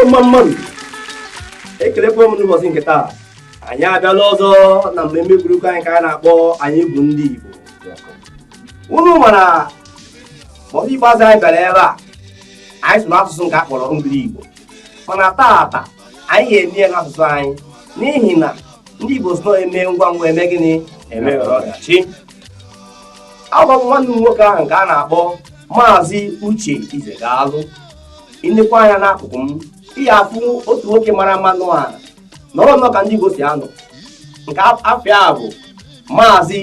mma mma nụ ekelekwa m n'ụbọchị nke taa anyị abịala ọzọ na mmemme egwuregwu anyị nke a na-akpọ anyị bụ ndị Igbo unu ma na mgbe ikpeazụ anyị bịara ebe a anyị sụrụ asụsụ nke a kpọrọ ngiri igbo mana taata anyị ga-eme ya n'asụsụ anyị n'ihi na ndị igbo sị na emee ngwa ngwa emee gịnị emeghara ọdachi abụ m nwanne unu nwoke ahụ nke a na-akpọ maazị uche ize ga-alụ i nekwaa anya n'akụkụ m ị ga-afụ otu nwoke mara mma n'ụwa nọrọ nnọọ ka ndị Igbo si anọ nke afa ya bụ maazị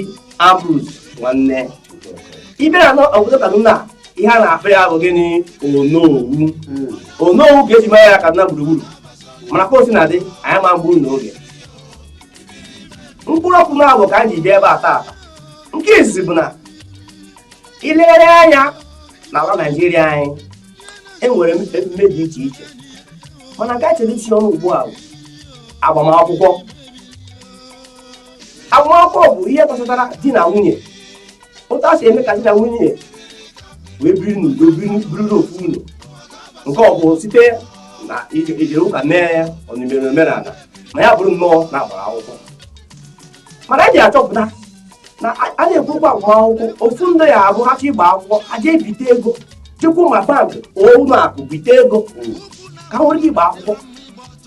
Ambrose nwanne ị bịa na obodo Kaduna ihe a na-akpọ ya bụ gịnị onowu hmm. onowu ka eji mara ya Kaduna gburugburu mana ka o sina dị anyị ama egbu unu oge mkpụrụ okwu naabọ ka anyị ji bịa ebe a taa nke izizi bụ na i legharịa anya n'ala Naijiria anyị enwere m emume dị iche iche mana nke chere isi ọnụ ugbu a bụ agbamakwụkwọ agbamakwụkwọ bụ ihe gbasatara di na nwunye otu e si eme ka di na nwunye wee biri n'udo biriri ofu ụlọ nke ọ bụ site na ije ụka mee ya ọ bụ e mere omenala ma ya bụrụ nnọọ na a gbara akwụkwọ mana anyị achọpụta na a na-ekwu ụgwọ akwụkwọ ofu ndị ya abụ ha ịgba akwụkwọ ha jee bite ego jekwa na bankị ụlọ akụ bite ego ka ha nwere ike ịgba akwụkwọ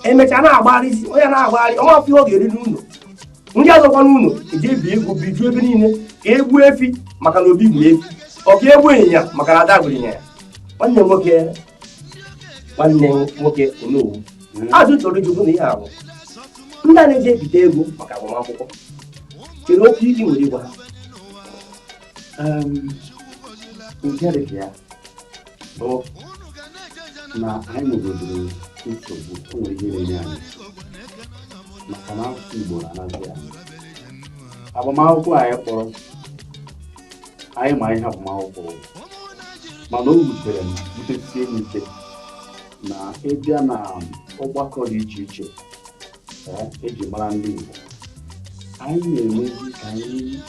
emechaa na-agbagharịzi onye na-agbagharị ọnwa afọ oge eriri ụlọ ndị azọkwa n'ụlọ eji ebi ego bijuo ebe niile ka e gbuo efi maka na obi gburu efi ọ ga-egbu ịnyịnya maka na ada gburu ịnyịnya nwanne nwoke nwanne nwoke onowu ajụjụ m chọrọ ịjụ bụ na ihe ahụ ndị a na-eji ebite ego maka agbamakwụkwọ kedụ okwu i nwere ịgwa ha nke dị ka ya bụ na anyị nwegodoro nsogbu o nwere ihe na-enye anyị maka na asụsụ Igbo na-anazi anyị agbamakwụkwọ anyị kpọrọ anyị ma ihe agbamakwụkwọ bụ mana o wutere m wutesie m ike na ị bịa na ọgbakọ dị iche iche ee, eji mara ndị Igbo anyị na-emezi ka anyị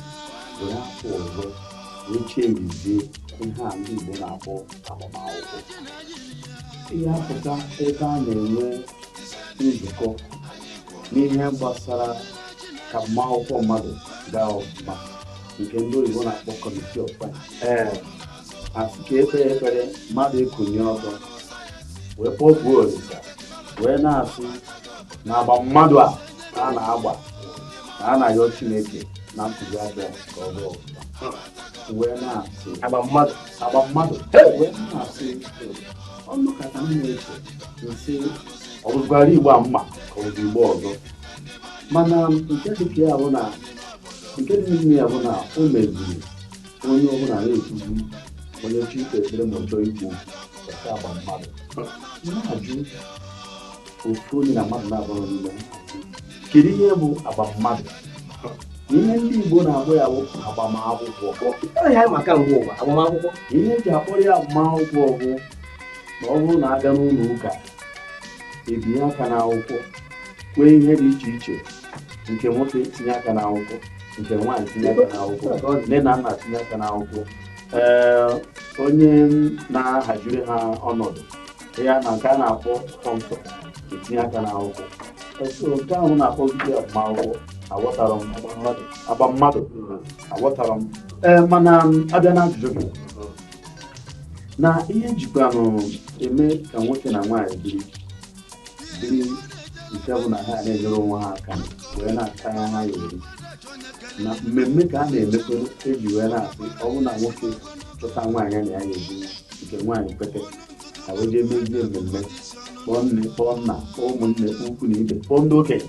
were afa ọzọ wee chenjizie ihe a ndị Igbo na-akpọ agbamakwụkwọ ị ga-apụta ebe a na-enwe nzukọ n'ihe gbasara ka agbamakwụkwọ mmadụ gaa ọfụma nke ndị oyibo na-akpọ committee of friends ee asị ka ekpee ekpere mmadụ ekunie ọtọ wee kpọkuo olisa wee na-asị na agba mmadụ a ka a na-agba ka a na-ayọ chineke na ntụzi abịa ka ọ bụ ọfụma wee na-asị agba mmadụ agba mmadụ wee na-asị ọnụ kata m na-eche m sị ọ bụzikwara igbo m ma ka ọ bụ igbo ọzọ mana nke dịka ya bụ na nke dị n'ime ya bụ na o meziri onye ọbụla na-ekwuzi onye chọọ ikpe ekpere ma ọ chọọ ikwu ọ sị agba mmadụ na-ajụ ofu onye na mmadụ na-abụrụ n'ime kedu ihe bụ agba mmadụ ihe ndị Igbo na-akpọ ya bụ agbamakwụkwọ ihe m ma kamgbe ụwa agbamakwụkwọ ihe eji akpọrọ ya agbamakwụkwọ bụ na ọ bụrụ na abịa n'ụlọ ụka ebinye aka n'akwụkwọ kwee ihe dị iche iche nke nwoke tinye aka n'akwụkwọ nke nwaanyị tinye aka n'akwụkwọ nne na nna tinye aka n'akwụkwọ ee onye na-ahaziri ha ọnọdụ ya na nke a na-akpọ sponsor etinye aka n'akwụkwọ so nke ahụ na-akpọ ogige agbamakwụkwọ aghọtara m agba mmadụ aghọtarọ m ee mana abịa na ajụjụ gị na ihe ejikwanụ eme ka nwoke na nwaanyị biri dị nke bụ na ha na-enyere onwe ha aka wee na-akpata ihe ha ya-eri na mmemme ka a na-emekwa eji wee na-asị ọ bụrụ na nwoke chọta nwaanyị na ya ga-ebi nke nwaanyị kwete ha wee jee mezie mmemme kpọọ nne kpọọ nna kpọọ ụmụnne kpọọ ikwu na ibe kpọọ ndị okenye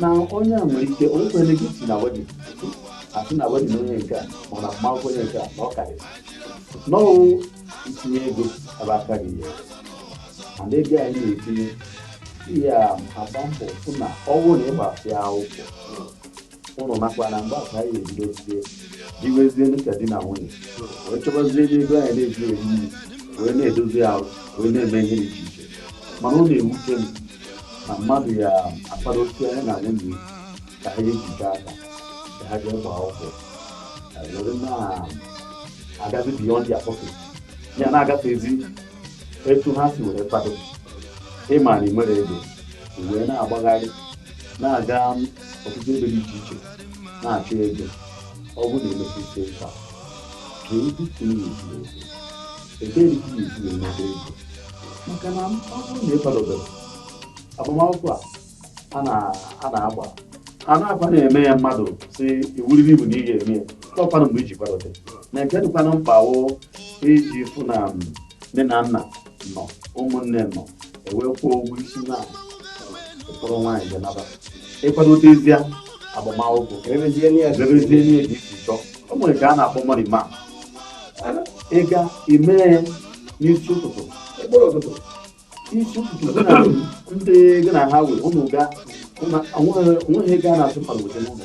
na onye a nwere ike onye kwere gị si na wedding asị na wedding onye nke a ma na mmanwụ onye nke a na ọ karịrị na ọ wụ itinye ego ebe aka gị ya mana ego anyị na-etinye ihe a agba mbọ fụ na ọ wụ na ịgbasịa akwụkwọ ụnụ makwa na mgbe ahụ ka anyị ebido tie biwezie dịka di na nwunye wee chọbazie ebe ego anyị na-eji eri nri wee na-edozi ahụ wee na-eme ihe dị iche iche mana ọ na-ewute m na mmadụ ya-akwadosịa ya na nwunye ka ha ejide aka ka ha jee gbaa akwụkwọ were na-agazi beyond their pocket ya na-agafezi etu ha si were kwado ị ma na i nwerọ ego wee na-agbagharị na-aga ọtụtụ ebe dị iche iche na-achọ ego ọ bụrụ na emepe ike nke a ka ndị ka ị na-esi ego ebee ka ị na-esi enweta ego maka na ọ bụrụ na ị kwadoberọ agbamakwụkwọ a a na-agba a na-agba na-eme ya mmadụ si ọ wụrịrị iwu na ị ga-eme ya ọ kwanụ mgbe i ji kwadote na nke dịkwanụ mkpa wụ iji fụ na nne na nna nọ ụmụnne nọ ewee kwụọ ụgwọ isi na ị kpọrọ nwaanyị gị naba ịkwadotezie agbamakwụkwọ ka emezie n'ihe dị iche chọọ o nwere nke a na-akpọ morning mass ịga ime n'isi ụtụtụ ekpere ụtụtụ isi ụtụtụ ndị gị na ha wee ụnụ ga onweghị ego a na-atụ mmadụ weta n'ụlọ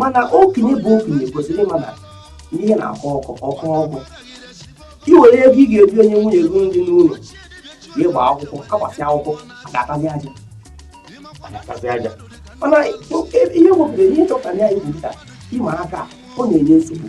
mana okenye bụ okenye kwesịrị ịma na ihe na-akọ ọkụ ọkụ ọkụ i were ego ị ga-eji enye nwunye gị nri n'ụlọ ya gba akwụkwọ agbasịa akwụkwọ ga-atazi aja ga-atazi aja mana ihe wepụtara ihe chọpụtara ya bụ nta ịma aka ọ na-enye nsogbu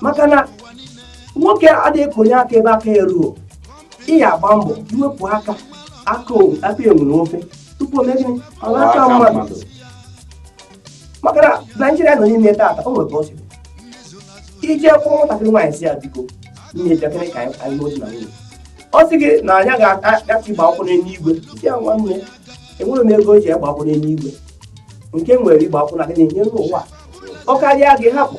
maka na nwoke adịghị akonye aka ebe aka ya ruo ị ya agba mbọ iwepụ aka aka o- aka enwe n'ofe tupu o mee gịnị ọ ghọrọ na-aka aka mmadụ mmadụ. maka na Naịjirịa nọ n'ime taata o nwere ka ọ si dị. i jee kpọọ nwatakịrị nwaanyị si ya biko nne bịakene ka anyị anyị n'otu na nwunye ọ sị gị na anyị ga-agachi gba akwụkwọ n'eluigwe si ya nwanne enwerọ m ego eji agba akwụkwọ n'eluigwe nke m nwere igba akwụkwọ na gịnị n'elu ụwa ọ karịa gị hapụ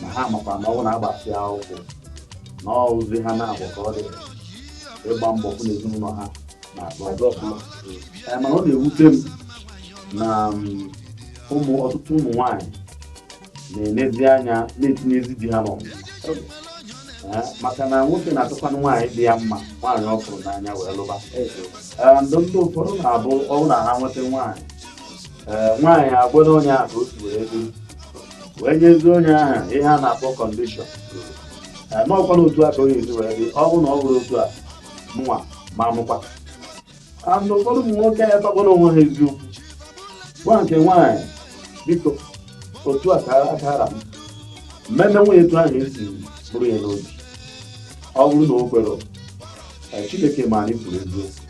na ha makwa na ọ bụ na a gbasịa akwụkwọ na ọ bụzi ha naabọ ka ọ dị ịgba mbọ fụ na ezinụlọ ha na-agba ọsọ ọfụma Ee, mana ọ na-ewute m na mm, ụmụ ọtụtụ ụmụ nwanyị na-enezi anya na-etinyezi di ha n'ọnwụ Ee, maka na nwoke na-achọkwanụ nwaanyị dị ya mma nwaanyị ọ fụrụ n'anya wee lụba Ee, ndị ndị ụfọdụ na-abụ ọ bụ na ha nweta nwaanyị ee nwaanyị agwa na onye ahụ otu wee dị wee nyezie onye ahụ ihe a na-akpọ condition ee ma ọkwa na otu a ka ọ ya-esi wee dị ọ bụrụ na ọ bụrọ otu a mụnwa ma mụkwa and ụfọdụ ụmụ nwoke ya takwara onwe ha eziokwu gwa nke nwaanyị biko otu a ka aka ra m mmemme nwunye etu ahụ esi buru ya n'obi ọ bụrụ na o kwere Chineke ma na i kwuru eziokwu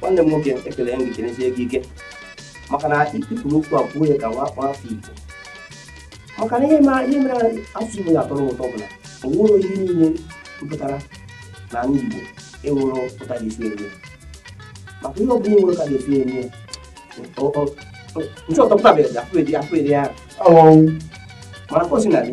nwanne m nwoke ekele m ga-ekenezie gị ike maka na ị tụpụrụ okwu a kwuo ya ka nwa afọ Igbo maka na ihe mere asụsụ Igbo ji atọ ụtọ bụ na o nwere ihe niile mepụtara na ndị Igbo enwere otu a ga-esi enye maka ihe ọbụla enwere ka ga-esi enye nchọtọpụtabeghị afọ eri ahụ mana ka o sina dị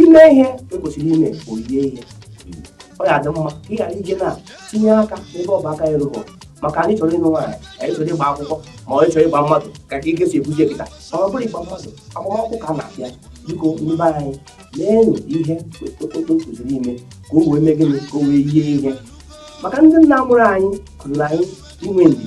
ime ihe ekwesịrị ime o yie ihe ọ ya adị mma ị ghara ije na-etinye aka n'ebe ọ bụ aka ya eruhu maka anyị chọrọ ịnụ nwaanyị anyị chọrọ ịgba akwụkwọ ma ọ chọrọ ịgba mmadụ ka ka ike si ebuzi kịta ma ọ bụrụ ịgba mmadụ agbamakwụkwọ ka a na-abịa biko ndị be anyị meenụ ihe otu e kwesịrị ime ka o wee mee gịnị ka o wee yie ihe maka ndị nna mụrụ anyị kụziri anyị inwe ndidi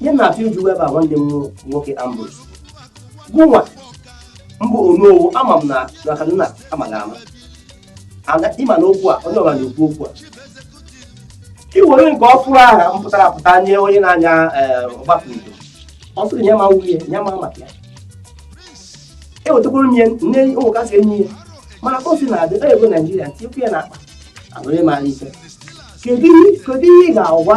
ihe na-achọ iji webe a nwanne m nwoke Ambrose gụnwa bụ onowu ama m na na Kaduna amaghị ama Ada- ịma na okwu a onye ọbụla na-ekwu okwu a i were nke ọfụrụ ahụ pụtara apụta nye onye na-anya ee, ọgbatumtum ọ sịrị nye ma nwunye nye ma maka ya ewetakwuru m ya nne ụmụ kasị enyi ya mana ka o si na-adị ọ ego naijiria ntikwu ya na akpa abụrụ ịmara ife kedu ihe kedu ihe ị ga-agwa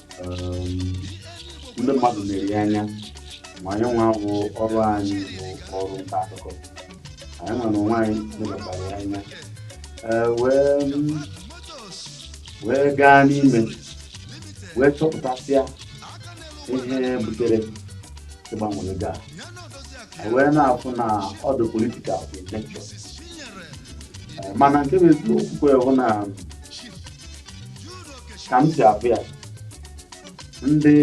um, ndị mmadụ na-ele anya ma anyị nwa bụ ọrụ anyị bụ ọrụ nta akụkọ anyị nwa na onwe anyị lebachara ya anya Ee, wee wee gaa n'ime wee chọpụtasịa ihe butere ịgbanwe ego a anyị wee na-afụ na ọ dị political in nature mana nke bụ eziokwu bụ na ka m si afụ ya ndị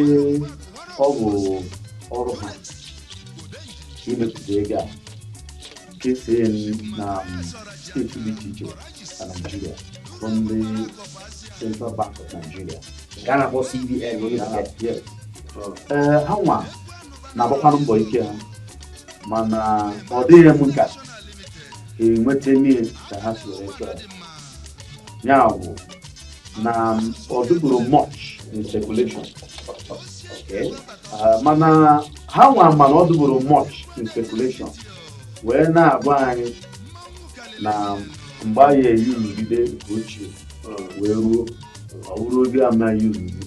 ọ bụ ọrụ ha imepụta ego a kesie na steeti dị iche iche na naijiria bụ ndị central bank of nigeria ka a na-akpọ CBN onye Ya na- isi. yes. ee ha nwa na-agbakwanụ mbọ ike ha mana ọ dịghị m ka enweta mmeri ka ha si wee chọọ ya ya bụ na ọ dịburọ much in circulation Okay. Ah, mana ha nwa ma na ọ dịburọ much in circulation wee na-agwa anyị na mgbe anyị eyi nrụgide nke ochie wee ruo ọ bụrụ oge a na-eyi nrụgide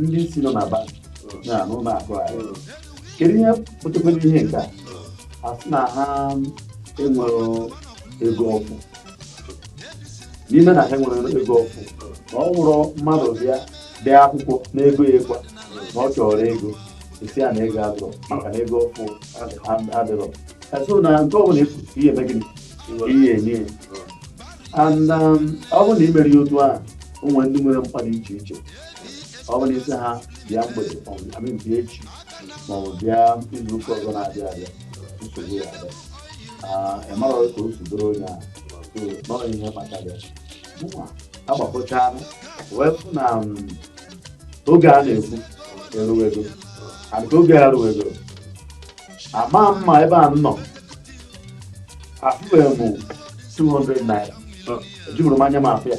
ndị isi nọ na bank na n'ụlọ akụ anyị kedu ihe pụtakwara ihe nke a ha sị na ha enwerọ ego ọfụụ n'ime na ha enwerọ ego ọfụụ na ọ bụrụ mmadụ bịa dee akwụkwọ n'ego ya ekwuo na ọ chọrọ ego a sị ya na ego ezurọ maka na ego ọfụụ adịrọ so na nke ọbụla efu ihe eme gịnị ihe enye ya and um, ọ bụrụ na i mere ya otu ahụ o nwere ndị nwere mkpa dị iche iche ọ bụrụ ị sị ha bịa mgbede ma ọ bụ bịa echi ma ọ bụ bịa izu ụka ọzọ na-abịa abịa nsogbu ya abịa ịmara ka o si dịrị onye a nọ ihe kpatara mụnwa agbakọchaa wee fụ na oge a na-ekwu eruwe ego adịka oge a ruwe ego ama mma ebe a nọ afụbeghị m 200 naira ejiburọ m anya m afụ ya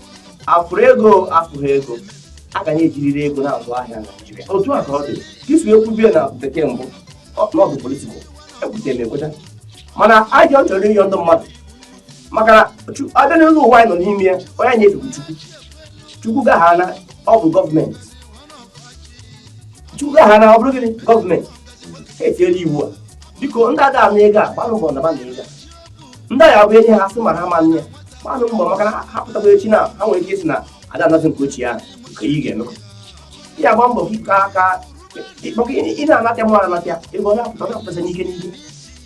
afụrụ ego afụghị ego a ga na-ejiriri ego na-azụ ahịa na Naịjirịa otu a ka ọ dị ka e si ekwu bie na bekee mbụ n'ọdụ politikal ekwetara m ekweta mana ajọ chọrọ ịyọ ndị mmadụ maka na a bịa n'elu ụwa anyị nọ n'ime ya onye anyị efe bụ chukwu chukwu gaha na ọ bụ gọọmenti chukwu gaha na ọ bụrụ gịnị gọọmenti etinyela iwu a biko ndị ada ana ego a gbaanụ mbọ nabanụ ego a ndị ọ ya-abụ e nye ha sị ma ha ma nne ya gbaanụ mbọ maka na ha pụtakwa echi na ha nwere ike ịsị na ada anazi nke ochie ahụ nke ị ga-eme ya agba mbọ ka ka maka ị na-anata mụ anata ebe ọ na-apụta na-apụtasị n'ike n'ike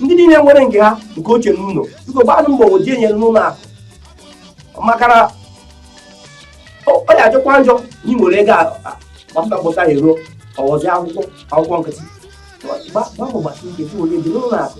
ndị niile nwere nke ha nke ochie n'ụlọ biko gbaanụ mbọ oji enyere n'ụlọ akụ maka na ọ ya-ajọkwa njọ na ị nwere ego gbapụta gbọta ya e ruo ọ ghọzi akwụkwọ akwụkwọ nkịtị gbaa mbọ gbasi ike si were eje n'ụlọ akụ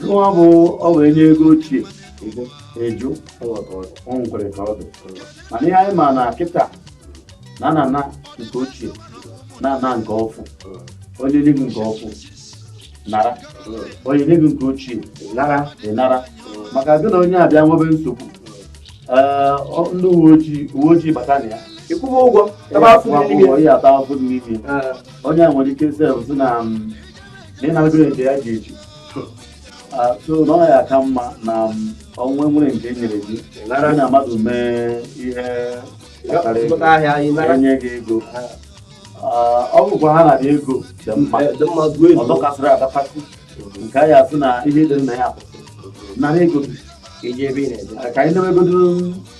na ọ bụ ọ bụ e nye ego ochie a jụ ọ nkwere ka ọ dị mana ihe anyị ma na kịta na na na nke ochie na na nke ọfụ onye nye gị nke ọfụ nara onye nye gị nke ochie nara ị nara maka gị na onye a bịa nwebe nsogbu ndị uwe ojii uwe ojii bata na ya ị kwụba ụgwọ ebe afọ ihe ata afọ n'ime onye a nwere ike sef sị na na ị nago nke ya ga-eji so na ọ ya-aka mma na ọ bụ were nke e nyere gị nara na mmadụ mee ihe kpatara ego pụta ahịa anyị nara e nye gị ego Ah, ọ bụkwa ha nara ego dị mma Eh, dị mma gụọ ọzọ ọ dọkasịrị adọkasị nke a ya-asị na ihe dị na ya apụtarọ nara ego gị jee ebe ị na-eje ka anyị na-emegodo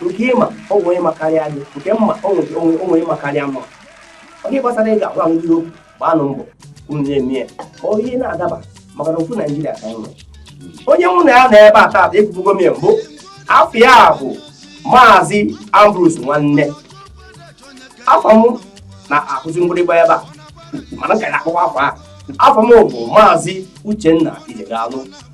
nke ị ma o nwere onye ma karịa gị nke m ma o nwere o nwere- o nwere onye ma karịa m ọ gị gbasara ịga agwa ndị okwu gbaanụ mbọ unu na-eme ya ma ọ ihe na-adaba maka na ofu naịjirịa ka anyị nwere onye mụ na ya nọ ebe a taata ekwubugo m ya mbụ afa ya bụ maazị ambrose nwanne afa m na-akụzi mgbịrịgba ebe a mana ka ya akpọwa afa afa m bụ maazị uchenna ijegalụ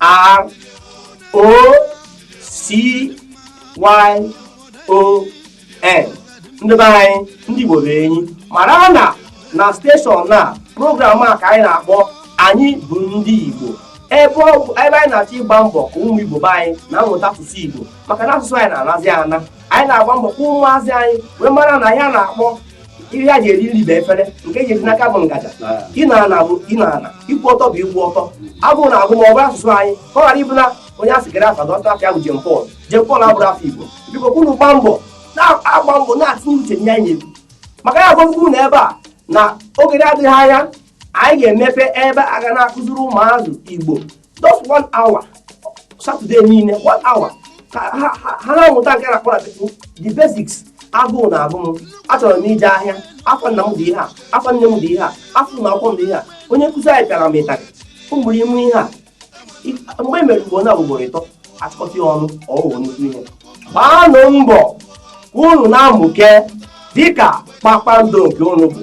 R O C Y O N ndị be anyị ndị Igbo be anyị mara na na steshọn na program a ka anyị na-akpọ anyị bụ ndị Igbo ebe anyị na-achọ ịgba mbọ ka ụmụ Igbo be anyị na-amụta asụsụ Igbo maka na asụsụ anyị na-anazi ana anyị na-agba mbọ ka ụmụazị anyị wee mara na ihe a na-akpọ ihe e ji eri nri bụ efere nke e jizi n'aka bụ ngaji ịnọ ana bụ ịnọ ana ịkwụ ọtọ bụ ịkwụ ọtọ abụ na agụ ma ọ bụ asụsụ anyị ka ọ ghara ịbụ na onye a sị kedu afa dọta afa ya bụ john paul john paul abụrọ afa igbo biko ka unu gba mbọ na-agba mbọ na-atụnye uche nye anyị egwu maka anyị agwago unu ebe a na oge adịghị anya anyị ga-emepe ebe a ga na-akụziri ụmụazị igbo just one hour satọde niile one hour ka ha ha- ha na-amụta nke a na-akpọ na bekee the basics agụụ na-agụ m achọrọ m ije ahịa afọ nna m dị ihe a afọ nne m dị ihe a afọ ụlọ akwụkwọ m dị ihe a onye nkụzi anyị pịara m ụtarị mgbere ime ihe a I- mgbe e mere ugboro na ugboro ịtọ a chịkọta ya ọnụ ọ wụrụ nnukwu ihe gbaanụ mbọ ka unu na-amụke dịka kpakpando nke unu bụ